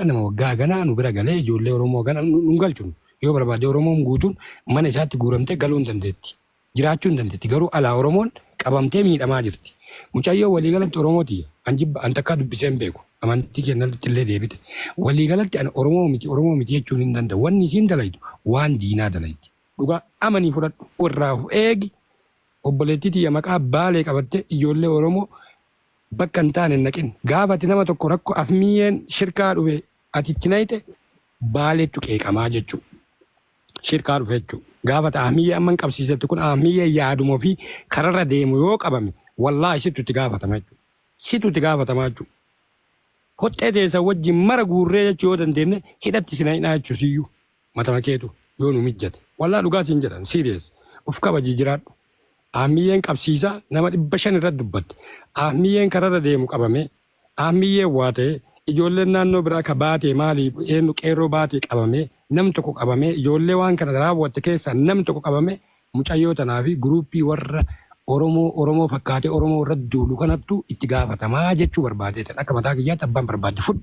nama waggaa haganaa nu bira galee ijoollee Oromoo hagana nu hin galchu. Yoo barbaade Oromoon guutuun mana isaatti guuramtee galuu hin dandeetti. Jiraachuu hin dandeetti. Garuu alaa Oromoon qabamtee miidhamaa jirti. Mucayyoo waliigalatti Oromoo tiyya. An jibba an takkaa dubbisee hin beeku. Amantii kennatti illee deebite. Waliigalatti an Oromoo miti Oromoo miti jechuun hin danda'u. Wanni isiin dalaydu waan diinaa dalaydi. Dhugaa amanii fudhadhu irraa of eegi Obboleettii tiyya maqaa baalee qabattee ijoollee oromoo bakka hin taane hin naqin. Gaafa ati nama tokko rakko afmiiyeen shirkaa dhufe ati itti nayxe baaleettu qeeqamaa jechu shirkaa dhufe jechu. Gaafa ati ahmiiyee amma hin qabsiisette kun ahmiiyee yaaduma ofii kararra deemu yoo qabame wallaahi sittu itti gaafatama jechu. Situ itti gaafatamaa jechu. Hoxxee teessan wajjin mara guurree jechu yoo dandeenne hidhatti isin hidhaa jechu siyyuu. Matama keetu yoo nu mijjate. Wallah dhugaa siin jedhan serious uf kabaji jiraadhu Ahmiyyeen qabsiisaa nama 500 irratti dubbatte Ahmiyyeen kararra deemu qabamee Ahmiyyeen waa ta'ee ijoolleen naannoo biraa ka baatee maali eennu qeerroo baatee qabamee nam tokko qabamee ijoollee waan kana raawwatte keessaa nam tokko qabamee mucayyoo tanaa fi guruuppii warra Oromoo Oromoo fakkaatee Oromoo irratti duulu kanattu itti gaafatamaa jechuu barbaadee tan akka mataa kiyyaatti abbaan barbaadde fudhu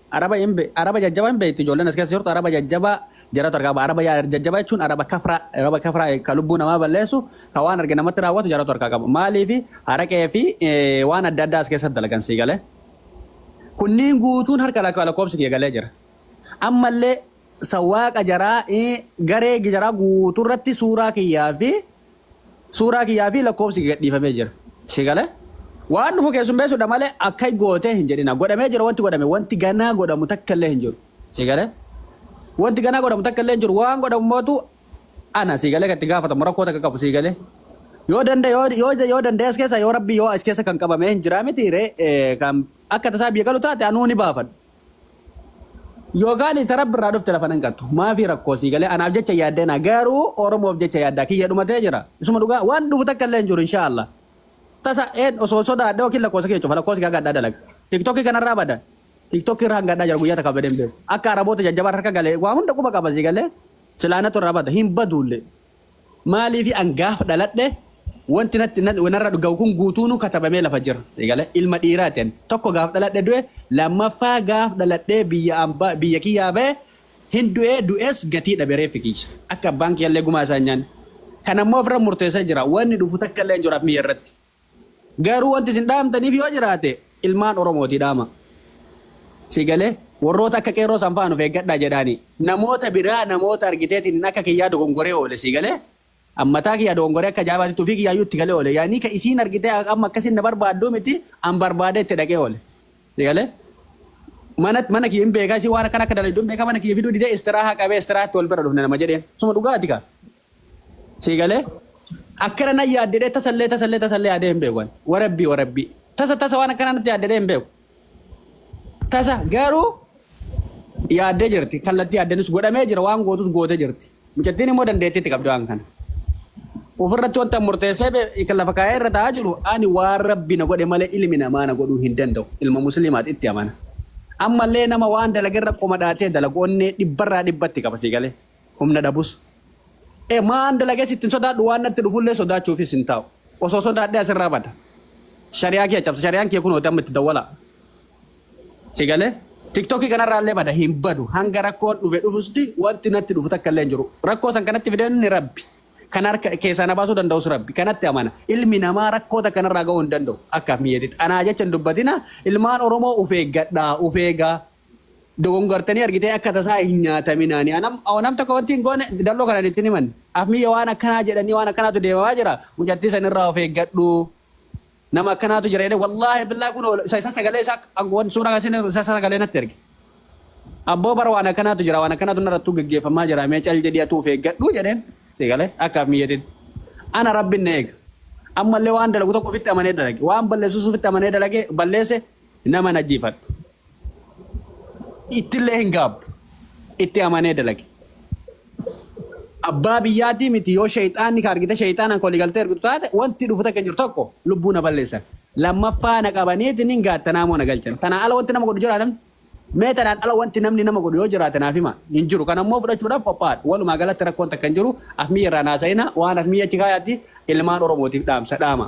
Araba hin be araba jajjaba hin beekti ijoolleen as keessa jirtu araba jajjaba jaratu argaa ba araba yaa- jajjaba jechuun araba kafra araba kafra ka lubbuu namaa balleessu ka waan arge namatti raawwatu jaratu harkaa qaba maaliif haraqee fi eh, waan adda addaa as keessatti dalagan sii galee kunniin guutuun harka lakka- lakkoofsi kiyya galee jira ammallee sawaaqa jaraa eh, garee jaraa guutuu irratti suuraa kiyyaa fi Suuraa kiyyaa fi lakkoofsi gadhiifamee jira. Si gale? Waan dhufu keessummeessuudha malee akka gootee hin jedhina. Godhamee jira wanti godhame. Wanti ganaa godhamu takka illee hin jiru. Si gale? Wanti ganaa godhamu takka illee hin jiru. Waan godhamu mootu ana si galee gatti gaafatamu rakkoo takka qabu si galee. Yoo danda yoo yoo yoo danda'e as keessa yoo rabbi yoo as keessa kan qabamee hin jiraa miti ree kan akka tasaa biyya galu taate anuu ni baafadha. Yookaan ita rabbi irraa dhufte lafa nan qattu. Maafii rakkoo sii galee anaaf jecha yaaddeenaa garuu Oromoof jecha yaaddaa kiyya dhumatee jira. Isuma dhugaa waan dhufu takka illee hin jiru inshaa Allah. Tasa een osoo sodaadhe yookiin lakkoosa kiyya cufa lakkoosa kiyya gaddaa dalaga. Tiktokii kanarraa bada. Tiktokii irraa hangadhaa jira guyyaa takka badeen beeku. Akka Araboota jajjabaan harka galee waa hunda quba qaba sii galee silaanatu irraa bada hin baduullee. Maaliifi an gaafa dhaladhe wanti natti narra gahu kun guutuunuu katabamee lafa jira. Sigale ilma dhiiraati ani. Tokko gaaf dhaladhe du'e, lammaffaa gaaf dhaladhee biyya ambaa biyya kiyyaa bahe hin du'e du'es gatii dhabe reeffi kiyya. Akka abbaan kiyyallee gumaa isaa hin nyaanne. Kanammoo ofirra murteessee jira. Wanni dhufu takkallee hin jiru addunyaarratti. Garuu wanti isin dhaamtaniif yoo jiraate ilmaan Oromootii dhaama. Si galee? Warroota akka qeerroo san fa'aan of eeggadhaa jedhaani. Namoota biraa namoota argiteetiin hin akka kiyyaa dogongoree oole si galee? An mataa kiyyaa dogongoree akka ajaa'ibaatitti ofii kiyyaayyuu itti galee oole. Yaani ka isiin argitee amma akkasiin na barbaadduu miti an barbaadee itti dhaqee oole. Si galee? Mana mana kiyya hin beekaa isii waan akkana akka dalagdu hin beekaa mana kiyya fiduu didee istiraahaa qabee istiraahatti wal bira dhufne nama jedheen. Suma dhugaati kaa. Sii galee? Akkana nan yaad jedhee tasallee tasallee tasallee yaadee hin beeku ani. Warabbii warabbii. Tasa tasa waan akkanaa natti yaad jedhee hin beeku. Tasa garuu yaaddee jirti. Kallattii yaaddeenis godhamee jira waan gootus gootee jirti. Mucattiin immoo dandeettii itti qabdi waan kana. Ofirratti wanta murteessee bee- kan lafa kaa'ee irra taa'aa jiru ani waan rabbi na godhe malee ilmi namaa na godhuu hin danda'u. Ilma musliimaati itti amana. Ammallee nama waan dalagerra qomadhaatee dalagu onnee dhibbarraa dhibbatti qaba sii galee. humna dhabus e maan dalages ittiin sodaadhu waan natti dhufullee sodaachuufis hin taa'u osoo sodaadhee asirraa bada shariyaa kee cabsa shariyaan kee kunooti amma itti dawwala si galee tiktokii kanarraallee bada hin badu hanga rakkoon dhufe dhufusti wanti natti dhufu takka illee hin jiru rakkoo san kanatti fideen inni rabbi kan harka keessaa na baasuu danda'us rabbi kanatti amana ilmi namaa rakkoo takka narraa ga'uu hin danda'u akkaaf miyyeetitti anaa jecha hin dubbatina ilmaan oromoo uf eeggadhaa uf eegaa dogongortanii argitee akka tasaa hin nyaataminaa ni anam oo nam tokko wanti hin goone dalloo kanan ittin himan afmiyya waan akkanaa jedhanii waan akkanaatu deemamaa jira mucattii san irraa of eeggadhu nama akkanaatu jira jedhee wallaahi billaa kun isa isa sagalee isaa ak- wan suuraa kasin isa isa sagalee natti erge abboo bara waan akkanaatu jira waan akkanaatu narrattuu geggeeffamaa jira mee cal jedhii atuu of eeggadhu jedheen si galee akka afmiyyatiin ana rabbin na eega ammallee waan dalagu tokko ofitti amanee dalage waan balleessus ofitti amanee dalage balleesse Nama hin ajjeefadhu. Ittillee hin gaabbu. Itti amanee dalagi. Abbaa biyyaatii miti yoo sheexaanni ka argite sheexaanaan ka waliigaltee argitu taate wanti dhufu takka hin jiru tokko lubbuu na balleessan. Lammaffaa na qabaniitiin hin gaattanaa moo na galchan. Tanaan ala wanti nama godhu jira namni? Mee tanaan ala wanti namni nama godhu yoo jiraate naaf hima. Hin jiru. Kana immoo fudhachuudhaaf qophaa'aadha. Walumaa galatti rakkoon takka hin jiru. Afmiyya irraa hin haasa'ina. Waan afmiyya achi kaayaatii ilmaan Oromootiif dhaamsa dhaama.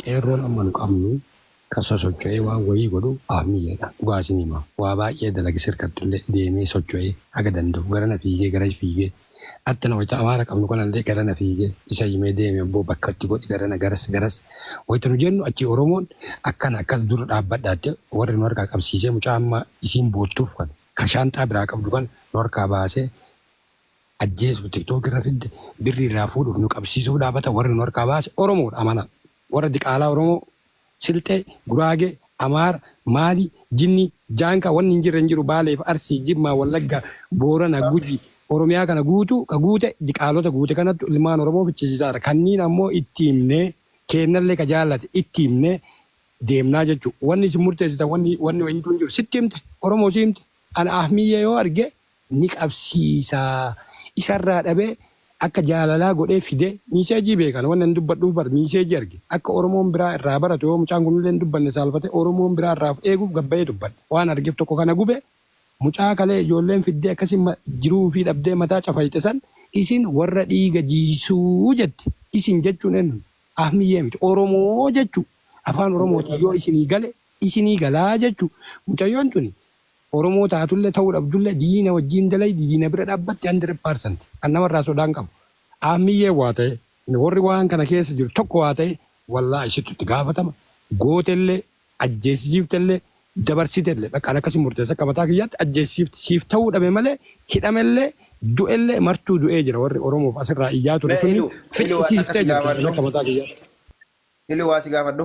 Qeerroon amma nu qabnu kan sosocho'ee waan wayii godhu Aabniyyeedha. Dhugaa isin hima. Waa baay'ee dalage sirkattillee deemee socho'ee haga danda'u garana fiigee gara fiigee attana wayita Amaara qabnu kanallee garana fiigee isa himee deemi abboo bakka itti godhi garana garas garas wayita nu jennu achii Oromoon akkana akkas dura dhaabbadhaa jettee warri nu harkaa qabsiisee mucaa amma isiin boottuuf kana ka shaanxaa biraa qabdu kana nu harkaa baasee ajjeesuuf tiktok irra fidde birri irraa fuudhuuf nu qabsiisuuf dhaabata warri nu harkaa baase oromoodha amana warra diqaalaa oromoo silxee guraagee amaara maali jinni jaanka wanni hin jirre hin jiru baaleef arsii jimmaa wallagga boorana guji oromiyaa kana guutuu ka guute diqaalota guute kanattu ilmaan oromoo fichisiisaara kanniin ammoo itti himnee keennallee ka jaallate itti himnee deemnaa jechuu wanni isin murteessitan wanni wanni wayintuu hin jiru sitti himte oromoo si himte ana ahmiyyee yoo arge ni qabsiisa isarraa dhabee akka jaalalaa godhee fide miiseejii beekan wanni ani dubbadhuuf bar miiseejii arge akka oromoon biraa irraa baratu yoo mucaan kun illee hin dubbanne saalfate oromoon biraa irraa of eeguuf gad bahee dubbadhe waan argeef tokko kana gube mucaa kalee ijoolleen fiddee akkasi jiruu ufii dhabdee mataa cafayxe san isin warra dhiiga jiisuu jette isin jechuun eennu ahmiyyee miti oromoo jechuu afaan oromootiin yoo isinii gale isinii galaa jechuu mucayyoon tuni Oromoo taatulle ta'uu dhabdulle diina wajjiin dalaydi diina bira dhaabbatti 100% kan namarraa sodaa hin qabu. Aammiyyeen waa ta'e worri waan kana keessa jiru tokko waa ta'e wallahi isittu itti gaafatama gootellee ajjeesisiiftellee dabarsitellee bakka an akkasi murteessa akka mataa kiyyaatti ajjeesisiifte siif ta'uu dhabe malee hidhamellee du'ellee martuu du'ee jira worri Oromoof asirraa iyyaa ture Mee sunni ilu ilu waan takka ficcisiiftee si jirti an gaafadhu akka mataa kiyyaatti. ilu waa si gaafadhu.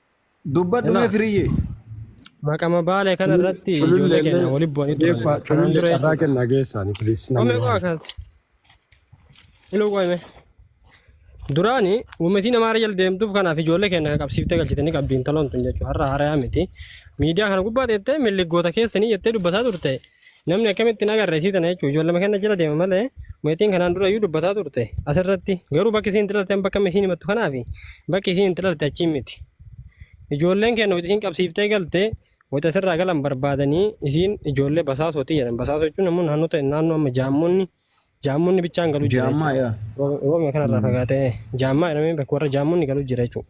Dubbadhu mee firiyyee. Maqama baale kana irratti ijoollee keenya wali bu'anii turan. Kanaan Culullee dura carraa jechuudha. kennaa geessaani please. Ome namni koo waan- akkanatti. Iluu koo hime. Duraani uummatiin amaara jala deemtuuf kanaaf ijoollee keenya qabsiiftee galchitanii qabdi intaloon tun jechuudha. Har'a haarayaa miti. Miidiyaa kana gubbaa teettee milliggoota keessanii jettee dubbataa turte. Namni akkamitti hin agarre isii tana jechuun ijoollama kenna jala deema malee meetiin kanaan dura iyyuu dubbataa turte asirratti garuu bakki isiin xilalte bakka isiin himattu kanaaf bakki isiin xilalte achiin miti. Ijoolleen kenna wayita isiin qabsiiftee galte wayita asirraa galan barbaadanii isiin ijoollee basaasooti jedhan basaasoo jechuun namoonni naannoo ta'e naannoo amma jaamonni jaamonni bichaan galu jira Jaammaa jechuudha. yaa. Roobni kanarraa fagaatee jaammaa jedhamee bakka warra jaamonni galu jira jechuudha.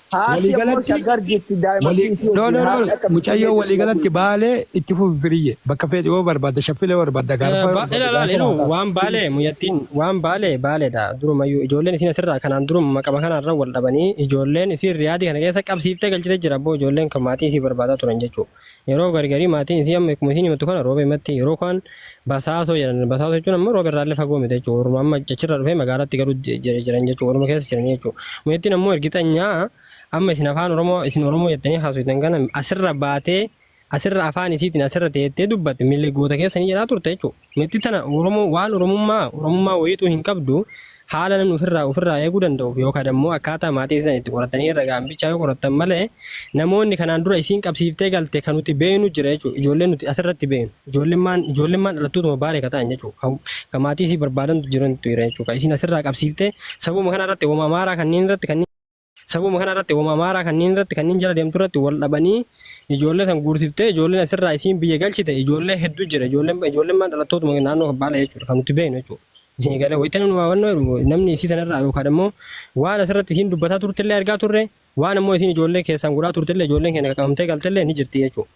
Haati Walii ammoo galatti- shaggar jirti Walii- daa'imattiin si no, wajjin no, haati no. akka Mucayyoo finfinnee walii jirtu galatti baalee itti fufi firiyye. Bakka feeti yoo barbaadda shaffilee yoo barbaadda gaarfa yoo Ba- barbaadda Ilaala gaarfa iluu waan waan baalee muyyattiin waan baalee baaleedha durumayyuu ijoolleen isiin asirraa kanaan duruma maqama kanarra wal dhabanii ijoolleen isiin riyaadii kana keessa qabsiiftee galchitee jira boo ijoolleen kan maatii isii barbaadaa turan jechuudha. Yeroo gargarii maatiin isii amma akkuma isiin himattu kana roobe himatti yeroo kaan basaasoo jedhan basaasoo jechuun amma roobe irraallee fagoo miti jechuudha warruma amma achirra dhufee magaalatti garuu jiran jechuudha warruma keessa jiranii jechuudha mucattiin ammoo ergixanyaa amma isin afaan oromoo isin oromoo jettanii haasoftan kana asirra baatee asirra afaan isiitiin asirra teettee dubbatte milli goota keessa ni jedhaa turte jechuudha. Mitti tana Oromoo waan Oromummaa Oromummaa wayiituu hin qabdu haala namni ofirraa ofirraa eeguu danda'uuf yookaan ammoo akkaataa maatiin isaan itti qoratanii irra ga'an bichaa yoo qorattan malee namoonni kanaan dura isiin qabsiiftee galte kan nuti beeynu jira jechuudha. Ijoolleen nuti asirratti beeynu ijoollemmaan ijoollemmaan dhalattootuma baalee ka ta'an jechuudha. Kan, kan maatii isii barbaadantu jirantu jira jechuudha. Kan isiin asirraa qabsiiftee sababuma kanarratti wama amaaraa kanneen irratti kanneen Sababuma kana irratti homa amaaraa kanneen irratti kanneen jala deemtu irratti wal dhabanii ijoollee san guursiftee ijoolleen asirraa isiin biyya galchite ijoollee hedduu jira ijoolleen ijoolleen maan dhalattootuma naannoo baala jechuudha kan nuti beeknu jechuudha. Isin galee wayita nu hawwannu jedhu namni isii sanarraa yookaan immoo waan asirratti isiin dubbataa turtellee argaa turre waan immoo isiin ijoollee keessaan godhaa turtellee ijoolleen keenya qaqqabamtee galtellee ni jirti jechuudha.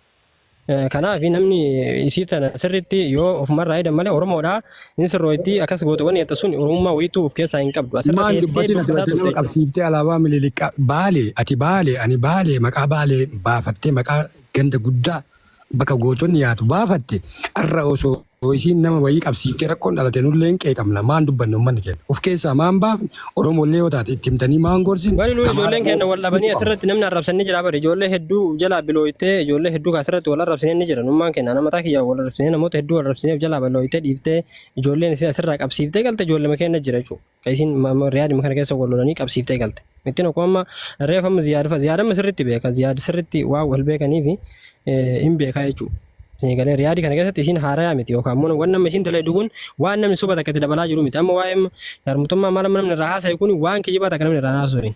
Kanaaf namni isii tana sirriitti yoo ofumarraa eedan malee Oromoodhaa hin sirrooytii akkas goote wanni jettu sun Oromummaa wayiituu of keessaa hin qabdu. Asirra Maal teettee dubbatin ati dubbataa wajjin nama turte. qabsiiftee alaabaa miliiliqqa baale ati baale ani baale maqaa baale baafattee maqaa ganda guddaa bakka gootonni yaatu baafatte har'a osoo Yoo isiin nama wayii qabsiiftee rakkoon dhalate nullee hin qeeqamna maan dubbanna ummanni keenna uf keessaa maan baafne oromoollee yoo taate itti himtanii maan gorsine Wani nuyi Amaaraa ijoolleen keenna wal dhabanii Oromoo asirratti namni arrabsan ni jira bari ijoollee hedduu of jalaa bilooytee ijoollee hedduu asirratti wal arrabsineen ni jira nummaan keenna nama mataa kiyyaa wal arrabsinee namoota hedduu arrabsinee of jalaa bilooytee dhiiftee ijoolleen isin asirraa qabsiiftee galte ijoollee keenna jira jechuudha. Ka isiin ma- ma- riyaadima kana keessa wal lolanii qabsiiftee galte. Mittiin akkuma amma reef amma ziyaad fa ziyaad amma sirriitti beeka ziyaad sirriitti waa wal beekaniifi eh, hin beekaa jechuudha. Isin galee riyaadi kana keessatti isiin haarayaa miti yookaan immoo waan nama isiin dalaydu kun waan namni soba takka itti dabalaa jiru miti amma waa'ee sharmutummaa maal amma namni irraa haasa'e kun waan kijibaa takka namni irraa haasa'u hin.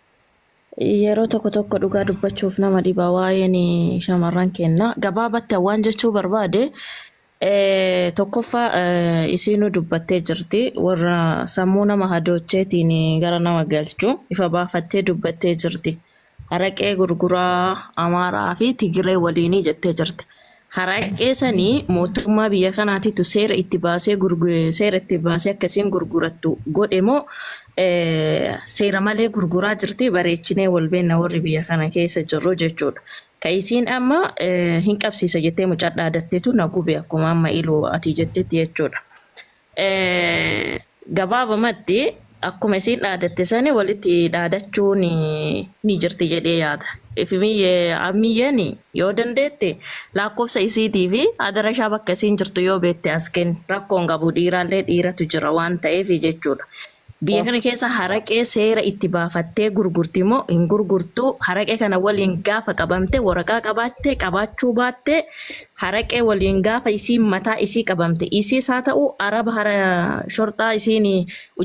Yeroo tokko tokko dhugaa dubbachuuf nama dhiba waa'een shamarran keenya. Gabaabatti waan jechuu barbaade tokkoffaa isiinuu dubbattee jirti warra sammuu nama hadoocheetiin gara nama galchu ifa baafattee dubbattee jirti. Araqee gurguraa Amaaraa fi Tigiree waliinii jettee jirti. Haraqqee sani mootummaa biyya kanaatitu seera itti baasee gurgu- seera itti baasee akka isiin gurgurattu godhe moo eh, seera malee gurguraa jirti bareechinee wal beenna warri biyya kana keessa jirru jechuudha. Ka isiin amma eh, hin qabsiisa jettee mucaa dhaadattetu na gube akkuma amma iluu ati jettetti jechuudha. Gabaabumatti akkuma isiin dhaadatte sani walitti dhaadachuun ni jirti jedhee yaada. Ifimiyyee ammiyyeen yoo dandeette lakkoofsa isiitii fi adarashaa bakka isiin jirtu yoo beekte as kenni. Rakkoon qabu dhiiraallee dhiiratu jira waan ta'eef jechuudha. Biyya kana keessa haraqee seera itti baafattee gurgurti moo hin gurgurtuu? Haraqee kana waliin gaafa qabamte waraqaa qabaatte qabaachuu baatte haraqee waliin gaafa isiin mataa isii qabamte isiis haa ta'u araba hara shorxaa isiin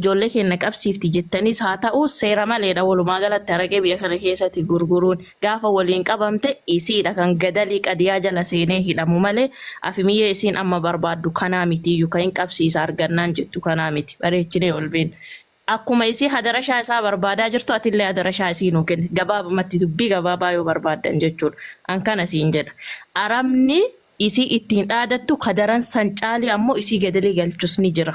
ijoollee keenya qabsiifti jettaniis haa ta'u seera maleedha walumaa galatti haraqee biyya kana keessatti gurguruun. gaafa waliin qabamte isiidha kan gadalii qadiyaa jala seenee hidhamu malee afimiyyee isiin amma barbaaddu kanaa mitiiyyu ka hin qabsiisa argannaan jettu kanaa miti bareechinee ol beena akkuma isii hadarashaa isaa barbaadaa jirtu atillee hadarashaa isii nuu kenni gabaabumatti dubbii gabaabaa yoo barbaaddan jechuudha an kana siin jedha arabni isii ittiin dhaadattu kadaran san caalii ammoo isii gadalii galchus ni jira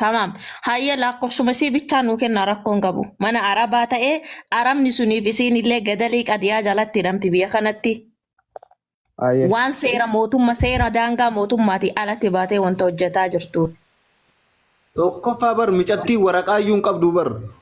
Tamaam. Hayyee lakkoofsuma isii bichaa nuu kennaa rakkoon qabu. Mana arabaa ta'ee arabni suniif isiin illee gadalii qadiyaa jalatti hidhamti biyya kanatti. Aye. Waan seera mootummaa seera daangaa mootummaati alatti baatee wanta hojjetaa jirtuuf. Tokkoffaa bar micattii waraqaayyuu hin qabdu bar.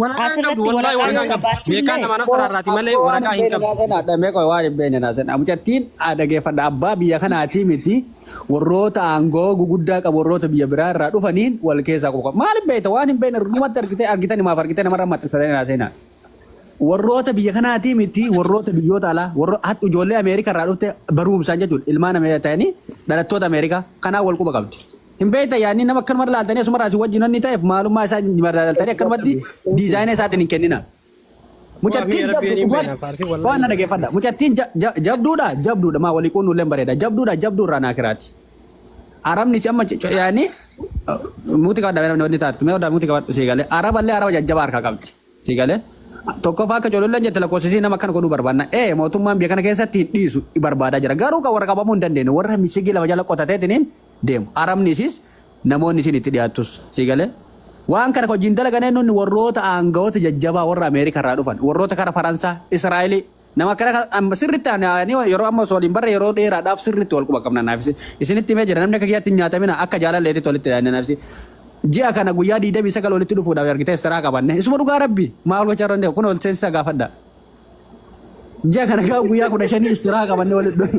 Waraqaa hin qabdu Asirratti wallahi waraqaa waraqaa yoo hin qabdu. qabaatte Beekaan illee nama nafsa irraati malee Abboo waan waraqaa hin hin beekne qabdu. naa sena dhamee qoy waan hin beekne naa sena mucattiin haa dhageeffadha abbaa biyya kanaatii miti warroota aangoo guguddaa qabu warroota biyya biraa irraa dhufaniin wal keessaa qofa maal beekta waan hin beekne dhumatti argitee argitan himaaf argitee namarra maxxansatee naa sena warroota biyya kanaatii miti warroota biyyoota alaa warro hatta ijoollee Ameerikaa irraa dhufte barumsaan jechuudha ilmaan Ameerikaa ta'anii dhalattoota Ameerikaa kanaa wal quba qabdi. Hin beektan yaadni nama akkanuma ilaaltanii asuma irraa isin wajjin wanni ta'eef maalummaa isaa madaaltanii akkanumatti diizaayina isaatiin hin kennina. Mucattiin Rabbiin jabdu hin dhugaa beekna, faarsi wallahi waan na hin dhageeffadha. beekna. Mucattiin ja- ja- jabduudha jabduudha maa walii quunnu illee bareeda jabduudha jabduu irraa naa kiraati. Arabni si amma c- c- yaani muuti qabadha namni wanni taatu mee odaa muuti qabadhu sii galee araba illee araba jajjabaa harkaa qabdi. Sii galee? Tokkoffaa akka cololleen jette lakkoofsa isii nama akkana godhuu barbaanna. Ee mootummaan biyya kana keessatti hin dhiisu barbaadaa jira. Garuu kan warra qabamuu hin dandeenye warra misigii lafa jala qotateetiniin deemu. Arabni isiis namoonni isiin itti dhiyaattus. Sii galee? Waan kana hojiin dalaganee nunni warroota aangawoota jajjabaa warra Ameerikaa irraa dhufan, warroota kara Faransaa, Israa'elii, Nama akkana kan amma sirriitti ani ani yeroo amma osoo waliin barre yeroo dheeraadhaaf sirriitti wal quba qabna naafisi. Isinitti himee jira namni akka kiyyaatti hin nyaatamina akka jaalalleetitti walitti dhaanne naafisi. Ji'a kana guyyaa 29 walitti dhufuudhaaf argitee istaraa qabanne. Isuma dhugaa rabbi maal gochaa irra hin deemu kun ol seensisaa gaafadha. Ji'a kana gaa guyyaa 15 istaraa qabanne walitti dhufu.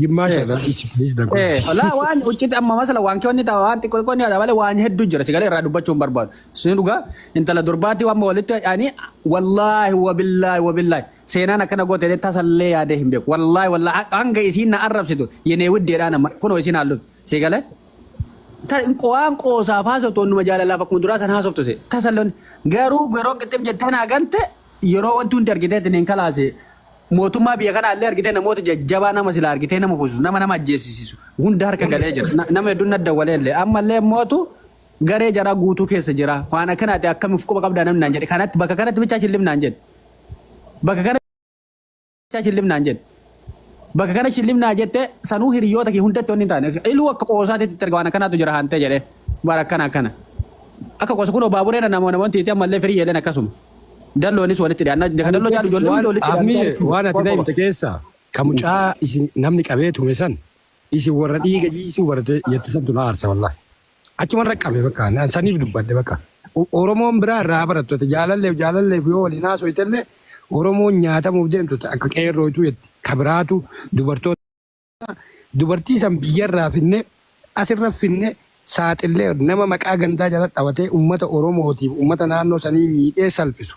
Jimmaa shagaa dhiisi please the Eh, good. Walaa waan ucciti amma masala waan kee wanni ta'a waan xiqqoo xiqqoo ni haadha malee waan hedduu jira sigalee irraa dubbachuu hin barbaadu. Sun dhugaa intala durbaatii waan walitti ani wallaahi wabillaahi wabillaahi seenaan akkana goote illee tasallee yaadee hin beeku. Wallaahi wallaahi hanga isiin na arrabsitu yenee widdeedhaan amma kunoo isiin haalluun sigalee. Waan qoosaaf haasoftu wannuma jaalalaaf akkuma duraa san haasoftu tasalloon garuu garoo qixxim jettee naa gante yeroo wanti hundi argitee itti hin kalaase mootummaa biyya kanaa illee argitee namoota jajjabaa nama silaa argitee nama kuusu nama nama ajjeesisisu hunda harka galee jira Na- nama hedduun na dawwalee illee amma illee mootu garee jaraa guutuu keessa jira waan akkanaati akkamiif quba qabdaa namni naan jedhe kanatti bakka kanatti bichaa chillif naan jedhe bakka kana Acha shillif naan jedhe. Bakka kana shillif naa jette sanuu hiriyoota kee hundatti wanni hin taane. Iluu akka qoosaatitti itti erga waan akkanaatu jira hantee jedhee. Bara akkana akkana. Akka qoosa kunoo baabureen namoota namoonni itti ammallee firii jedheen akkasuma. Dalloonis walitti dhiyaanna. Ka dalloo jaalu ijoollee hundi walitti dhiyaanna. Afniye waan ati na himte keessa ka mucaa isin namni qabee tume san isin warra dhiiga jiisuu barate jette santu na aarsa wallahi. Achuman rakkame bakka an saniif dubbadhe bakka. O- Oromoon biraa irraa barattoota jaalalleef jaalalleef yoo waliin haasoftellee Oromoon nyaatamuuf deemtu ta- akka qeerrootu jetti. Ka biraatu dubartoota dubartii san biyyarraa finne asirra finne saaxillee nama maqaa gandaa jala dhawatee ummata Oromootiif ummata naannoo sanii miidhee salphisu.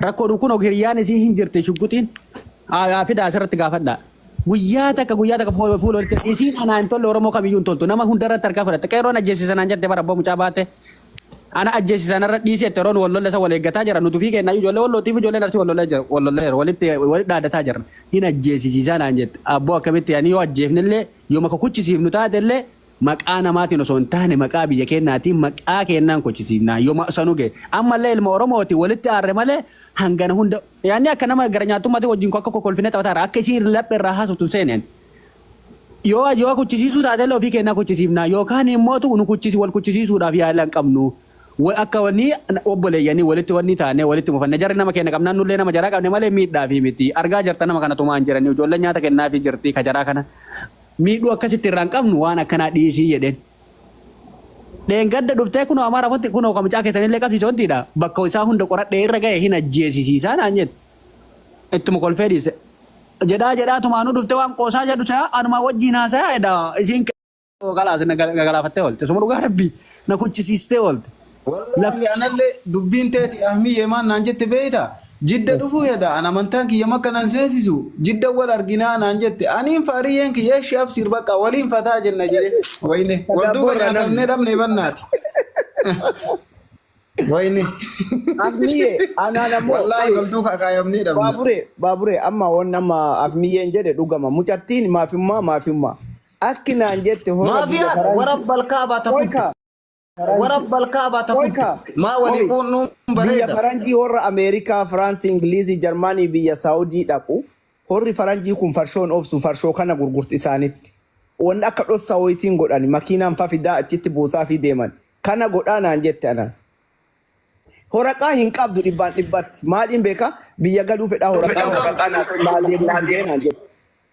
Rakkoodhu kun hiriyaan isii hin jirti shugguxiin haa fidaa asirratti gaafadhaa. Guyyaa takka guyyaa takka fuula fuula walitti isiin anaa hin tolle Oromoo kamiyyuu hin toltu nama hundarratti harkaa fudhatte qeerroon ajjeesisa naan jette bara abbaa mucaa baate ana ajjeesisa narra dhiisi jette Oromoon wal lolla isa wal eeggataa jira nuti ofii keenya ijoollee wallootiif ijoolleen arsii wal lollee jira wal lollee jira walitti walitti dhaadataa jirra hin ajjeesisiisaa naan jette abboo akkamitti ani yoo ajjeefnellee yoo maka kuchisiifnu taatellee Maqaa namaatiin osoo hin taane maqaa biyya keennaatiin maqaa keennaan kochisiifnaa yoma sanu gahe. Ammallee ilma Oromooti walitti aarre malee hangana hunda yaanni akka nama gara nyaattummaatii wajjin akka kokolfinee taphataa irra akka isiin laphee irraa haasoftu hin seeneen. Yoo yoo kuchisiisuu taatellee ofii keennaa kuchisiifnaa yookaan immootu nu kuchisi wal kuchisiisuudhaaf yaala hin qabnu. Wa- Akka wannii obboleeyyanii walitti wannii taanee walitti mufanne jarri nama keenna qabnaan nullee nama jaraa qabne malee miidhaafii miti. Argaa jirta nama kana tumaan jiranii ijoolleen nyaata kennaafii jirti ka jaraa kana. miidhuu akka sitti irraan qabnu waan akkanaa dhiisii jedheen. Dheengadda dhuftee kunoo amara kotti kunoo ka mucaa keessanillee qabsiise wantiidha bakka isaa hunda qoradhee irra ga'e hin ajjeesisiisaa naan jedhe. Ittuma kolfee dhiise. Jedhaa jedhaa tumaanuu dhuftee waan qoosaa jedhu se'a anumaa wajjiin haasayaa edaa isiin kalaas na galaafattee oolte. Suma dhugaa rabbii na kuchisiistee oolte. Wallaahi analle dubbiin teeti Ahmiyyee maal naan jette beeyta? Jidda dhufuu heda an amantaan kiyya makka nan seensisu jidda wal arginaa naan jette aniin fa ariyyeen kiyya eshi absiir baqqa waliin fataa jenna jee wayne wal duuba Boorra namni. nyaatamnee dhabnee bannaati. Wayne Ahmiyyee anaan ammoo wallaahi wal duuka akaayamnee dhabna. Baabure baabure amma waan amma Ahmiyyeen jedhe dhugama mucattiin maafimmaa maafimmaa akki naan jette hora biyya Maafiyaa faransi warabbal kaabaa takun. Qoyka Wara balkaa bata Qoy kuddu. kaa. Maa walii Qoy. quunnuun Biyya bareeda. faranjii horra Ameerikaa, Firaansi, Ingiliizii, Jarmaanii, biyya Saawudii dhaqu. Horri faranjii kun farshoon obsu farshoo kana gurgurti isaanitti. Wanni akka dhossaa wayitiin godhani makiinaan fa fidaa achitti buusaafii deeman. Kana godhaa naan jette anan. Horaqaa hin qabdu dhibbaan dhibbatti. Maaliin beekaa? Biyya galuu fedhaa horaqaa Fedhaa horaqaa naaf naa deemuu didee naan jette.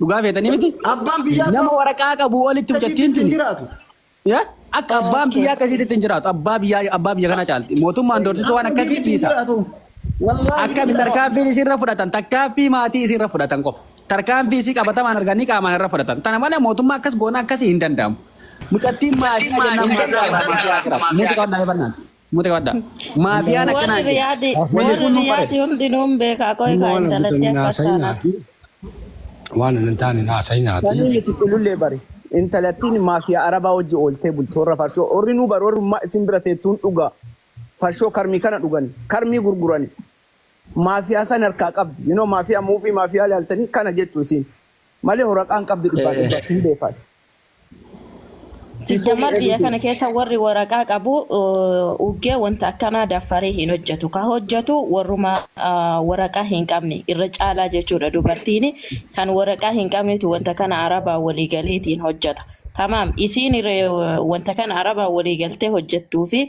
Dhugaa feetanii miti? Abbaan biyyaa Nama waraqaa qabu olitti mucattiin tuni. jiraatu. Ya? Akka abbaan biyyaa akkasiitti ittiin jiraatu. Abbaa biyyaa abbaa biyya kana caalti. Mootummaan doorsisuu waan akkasii dhiisa. Akkami tarkaanfiin isiirra fudhatan takkaaffii maatii isiirra fudhatan qofa. Tarkaanfii isii qabatamaan arganii qaamaan irra fudhatan. Tana malee mootummaa akkas goona akkasii hin danda'amu. Mucattiin maatii jennaan maatii jennaan maatii jennaan. Muuziqaa hundaa'ee barnaan. Muti qabadha. Maafiyaan Warri akkanaan jedhe. riyaadi Wanni warri kun nu riyaadi bareeda. hundinuu hin beeka Hin qoy kaa waan hin intalatti guutamne akkas haasa'in taanaan. haati. Waan hin taane haasa'in haati. Sanii miti culullee bari. Intalattiin maafiyaa arabaa wajji ooltee bulti warra farshoo. Warri nuu bari warrummaa isin bira teettuun dhugaa. Farshoo karmii kana dhugani. Karmii gurgurani. Maafiyaa san harkaa qabdi. You know maafiyaa muuvii maafiyaa ilaaltanii kana jettu isiin. Malee horaqaan qabdi dhibbaa dhibbaatti hin beekan. Sijjamar biyya kana keessa warri waraqaa qabu uggee wanta akkanaa daffaree hin hojjetu. Ka hojjetu warruma waraqaa hin qabne irra caalaa jechuudha dubartiin kan waraqaa hin qabnetu wanta kana arabaa walii galeetiin hojjeta. Tamaam isiin wanta kana arabaa walii galtee hojjettuu fi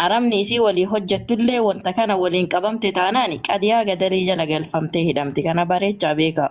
arabni isii walii hojjettullee wanta kana waliin qabamte taanaan qadiyaa gadarii jala galfamtee hidhamti. Kana bareechaa beekaa.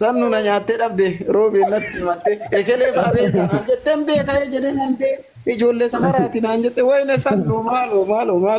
Sannu na nyaattee dhabde Roobeen natti himatte ekelee faa beektaa naan jette hin beeka ejeleen handee ijoollee safaraati naan jette wayne sannu maaloo maaloo maaloo.